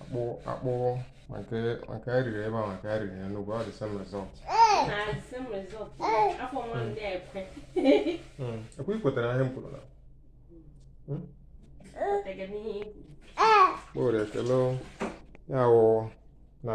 akpụ akpụ ma ka ma ka e riri ebe a ma ka e riri ya n'ugwu ọ dị same result i kwe i kwetara ihe m kwuru na kpọrọ ekele ya wụ na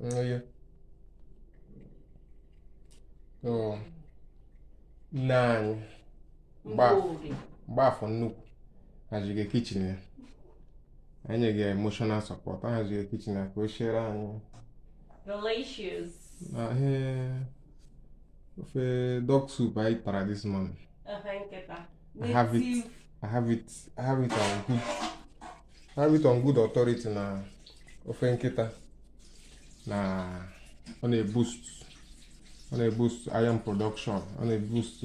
Yeah. So nne anyị Mgbafọ nnukwu haziga kitchen ya anyị nyega ya emotional support ahaziga kitchen ya ka o siere anyị delicious ah ofe dog soup anyị tara this morning I have it I have it I have it on good have it on good authority na ofe nkịta na ọ na-eboost ọ na-eboost iron production ọ na-eboost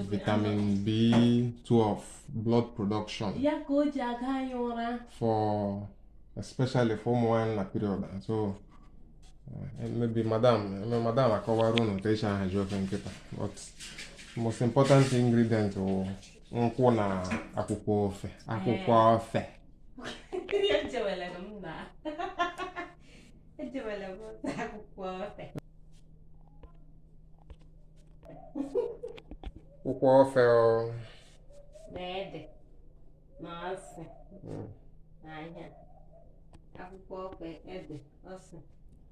vitamin B12 blood production ya ka o ji aga anyị ụra for especially for ụmụ nwaanyị na period and so eh, maybe madam eme madam akọwara unu otu esi ahazi ofe nkịta but most important ingredient wụ nkwụ na akwụkwọ ofe akwụkwọ eh. ofe akwụkwọ ofe ede na ose akwụkwọ ofe ede ose